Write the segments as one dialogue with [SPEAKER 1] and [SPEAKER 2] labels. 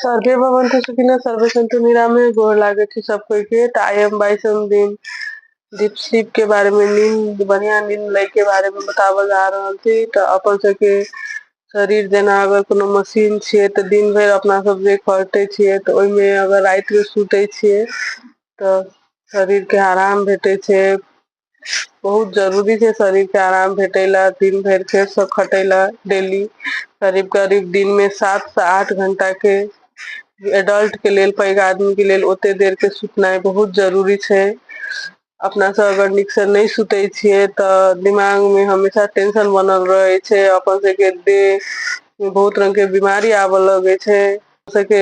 [SPEAKER 1] survey भवन तो सुखिना सर्वे संतु निराम में गोर लागे थी सब कोई के तो आई एम बाई सम दिन दीप स्लीप के बारे में नींद बढ़िया नींद ले के बारे में बतावल जा रहा थी तो अपन सबके शरीर जेना अगर कोनो मशीन छे तो दिन भर अपना सब जे करते छे तो ओहि में अगर रात में सुते छे तो शरीर के आराम भेटे छे बहुत जरूरी छै शरीर के आराम भेटय ल दिन भरि फेर स खटय ल डेली करीब करीब दिन मे सात स आठ घंटा के एडल्ट के लेल पैघ आदमी के लेल ओते देर के सुतनाइ बहुत जरूरी छै अपना सब अगर नीक से नहि सुते छियै त दिमाग मे हमेशा टेंशन बनल रहे छै अपन सबके देह बहुत रंग के बिमारी आब लगै छै ओ सबके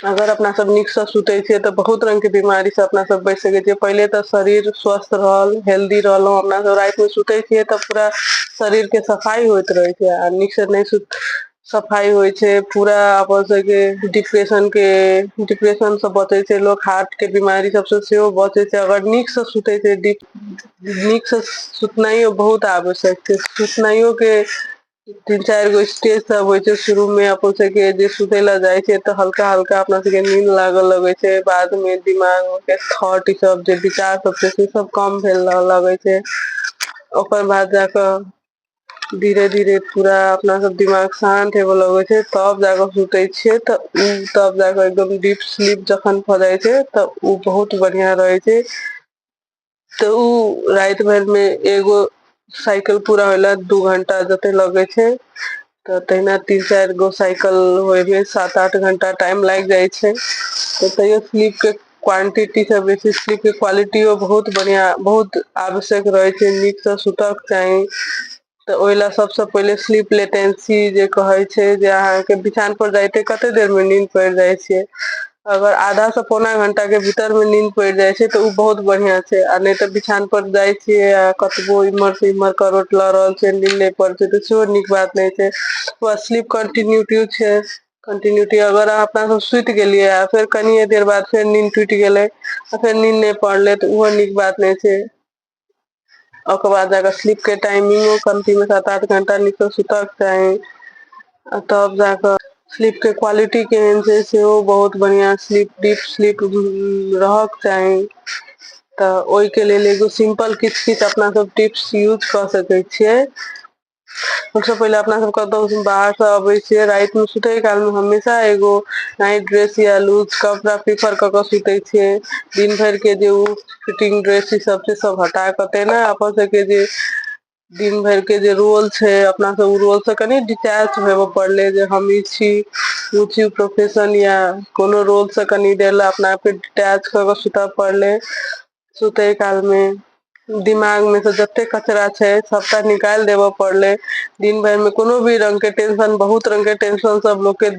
[SPEAKER 1] अगर अपना सब नीक से सुते छिये ते बहुत रंग के बीमारी से अपना सब बच सके छीे पहिले तऽ शरीर स्वस्थ रहल हेल्दी रहलहु अपना सब राति मे सुते छियै तऽ पूरा शरीर के सफाई होयइत रहे छै आ नीक से नहि सुत सफाइ होइ छै पूरा अपन सबके डिप्रेशन के डिप्रेशन से बचै छै लोक हार्ट के बीमारी सब स सेहो बचे छै अगर नीक से सुते छै नीक से सुतनाइयो बहुत आवश्यक छै सुतनाइयो के तीन चारि गो स्टेज सब होइ छै शुरू मे अपन सबके जे सुतय लए जाइ छै तऽ हल्का हल्का अपना सबके नीन लागऽ लगै छै बाद मे दिमाग मे फेर थॉट ई सब जे विचार सब छै से सब कम भेल रहऽ लगै छै ओकर बाद जाकऽ धीरे धीरे पूरा अपना सब दिमाग शान्त हेबय लगै छै तब जाकऽ सुतै छियै तऽ उ तब जाकऽ एकदम डीप स्लीप जखन भऽ जाइ छै तऽ उ बहुत बढ़ियाँ रहै छै ते उ रात भर में एगो साइकिल पूरा होला दू घंटा जते लगे छै तऽ तहिना तीन चारि गो साइकिल होय मे सात आठ घंटा टाइम लागि जाइ छै तऽ तैयो स्लीप के क्वांटिटी से बेसी स्लीप के क्वालिटियो बहुत बढ़िया बहुत आवश्यक रहे छै नीक से सुतय के चाही तऽ ओहि लए सबसँ पहिले स्लीप लेटेंसी जे कहै छै जे अहाँके बिछान पर जाइते कते देर मे नीद पड़ि जाइ छै अगर आधा से पौना घंटा के भीतर मे नीन पड़ि जाइ छै तऽ ओ बहुत बढ़ियां छै आ नहि तऽ बिछान पर जाइ छियै आ कतबो इम्हर से इम्हर करवट लऽ रहल छै नीन नहि पड़ छै तऽ सेहो नीक बात नहि छै ओ स्लीप कन्टिन्यूटी छै कन्टिन्यूटी अगर अहाँ अपना सब सुति गेलियै आ फेर कनिये देर बाद फेर नीन टूटि गेलै आ फेर नीन नहि पड़ले तऽ ओहो नीक बात नहि छै ओकर बाद जाके स्लीप के टाइमिंगो कमती में सात आठ घंटा नीचे सुतक चाही आ तब जाके स्लीप के क्वालिटी केहन छै सेहो बहुत बढ़िया स्लीप डीप स्लीप रहक चाही तऽ ओहिके लेल एगो सिंपल किछु किछु अपना सब टिप्स यूज कऽ सकै छियै सबसे पहिले अपना सब कतौ बाहर से अबे छिये रात में सुते काल में हमेशा एगो नाइट ड्रेस या लूज कपड़ा पीफर क के सुते छिये दिन भर के जे उ फिटिंग ड्रेस ई सब छै सब हटा के ते ने अपन सब के जे दिन भर के जे रोल छै अपना सब उ रोल से कनि डिटैच हेबय पड़ले जे हम ई छी उ चीज प्रोफेशन या कोनो रोल से कनि देर ले अपना आपके डिटैच क के सुते पड़ले सुतय काल मे दिमाग मे से जते कचरा छै सबटा निकालि देबय पड़ले दिन भरि मे कोनो भी रंग के टेंशन बहुत रंग के टेंशन सब लोग के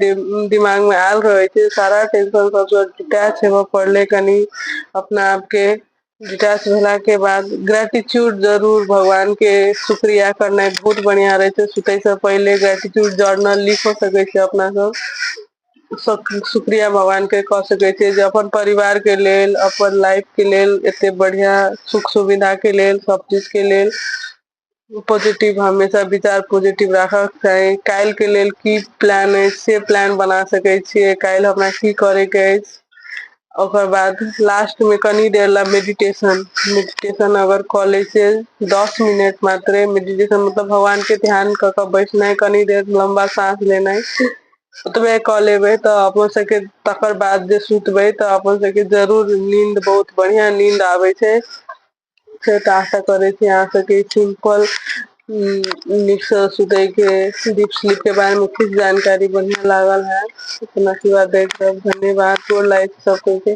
[SPEAKER 1] दिमाग मे आयल रहे छै सारा टेंशन सब स डिटैच होबय पड़ले कनि अपना आप के डिटैच भेला के बाद ग्रेटिट्यूड जरूर भगवान के शुक्रिया करनाइ बहुत बढ़िया रहे छै सुते से पहिले ग्रेटिट्यूड जर्नल लिख सकै छी अपना सब शुक्रिया भगवान के कऽ सकैत छियै जे अपन परिवार के लेल अपन लाइफ के लेल एते बढ़िया सुख सुविधा के लेल सब चीज के लेल पॉजिटिव हमेशा विचार पॉजिटिव राखक चाही काल्हि के लेल की प्लान अछि से प्लान बना सकै छियै काल्हि हमरा की करे के अछि ओकर बाद लास्ट में कनी देर ला मेडिटेशन मेडिटेशन अगर कऽ लै छै दस मिनट मात्रे मेडिटेशन मतलब भगवान के ध्यान कऽ कऽ बैठनाइ कनी देर लंबा साँस लेनाइ ओतबे कऽ लेबै तऽ अपन सबके तकर बाद जे सुतबै तऽ अपन सबके जरूर नींद बहुत बढ़िया नींद आबै छै से तऽ आशा करै छी अहाँ सबके सिम्पल उ नीक से सुतै के दीप सिलीप के बारे मे खुब जानकारी बढ़िया लागल है अपना आशीर्वाद दैत रहब धन्यवाद गोर लागै छी सब कोई के